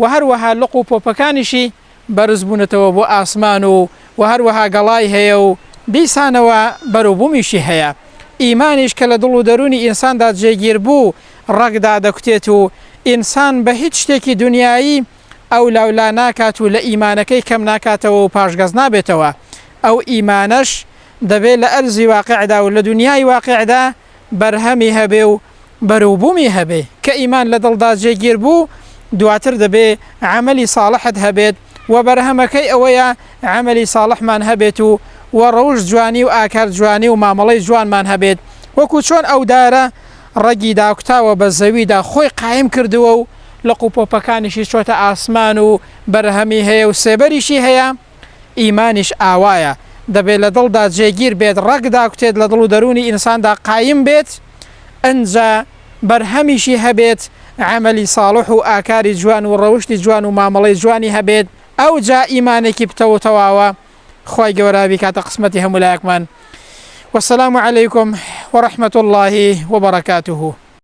وە هەروەها لق و پۆپەکانیشی بەرز بوونەتەوە بۆ ئاسمان و وە هەروەها گەڵای هەیە و دیسانەوە بەرو بومیشی هەیە ئیمانیش کە لە دڵ و دەروونی ئینساندا جێگیر بوو ڕەگ دادەکوتێت و ئینسان بە هیچ شتێکی دونیایی ئەولا و لا ناکات و لە ئیمانەکەی کەم ناکاتەوە و پاشگەز نابێتەوە ئەو ئیمانەش دەبێ لە ئەرزی واقیعدا و لە دونیای واقیعدا بەرهەمی هەبێ و بەروبوومی هەبێ، کە ئیمان لە دڵدا جێگیر بوو، دواتر دەبێ عەمەلی ساڵحت هەبێت و بەرهەمەکەی ئەوەیە عەمەلی ساڵحمان هەبێت و و ڕەوشت جوانی و ئاکار جوانی و مامەڵەی جوانمان هەبێت وەکوو چۆن ئەو دارە ڕەگی داکوتاوە بە زەویدا خۆی قایم کردووە و لقوپۆپەکانیشی چۆتە ئاسمان و بەرهەمی هەیە و سێبەریشی هەیە، ئیمانیش ئاوایە، دەبێت لە دڵدا جێگیر بێت، ڕەگ داکوتێت لە دڵ و دەروونی ئینساندا قایم بێت، ئنجا بەرهەمیشی هەبێت، عەمەلی ساڵح و ئاکاری جوان و ڕەوشتی جوان و مامەڵەی جوانی هەبێت، ئەوجا ئیمانێکی پتەو و تەواوە، خوای گەورە بیکاتە قسمەتی هەموولایەکمان. والسلام علیکم ورحمة اللە وبرکاته.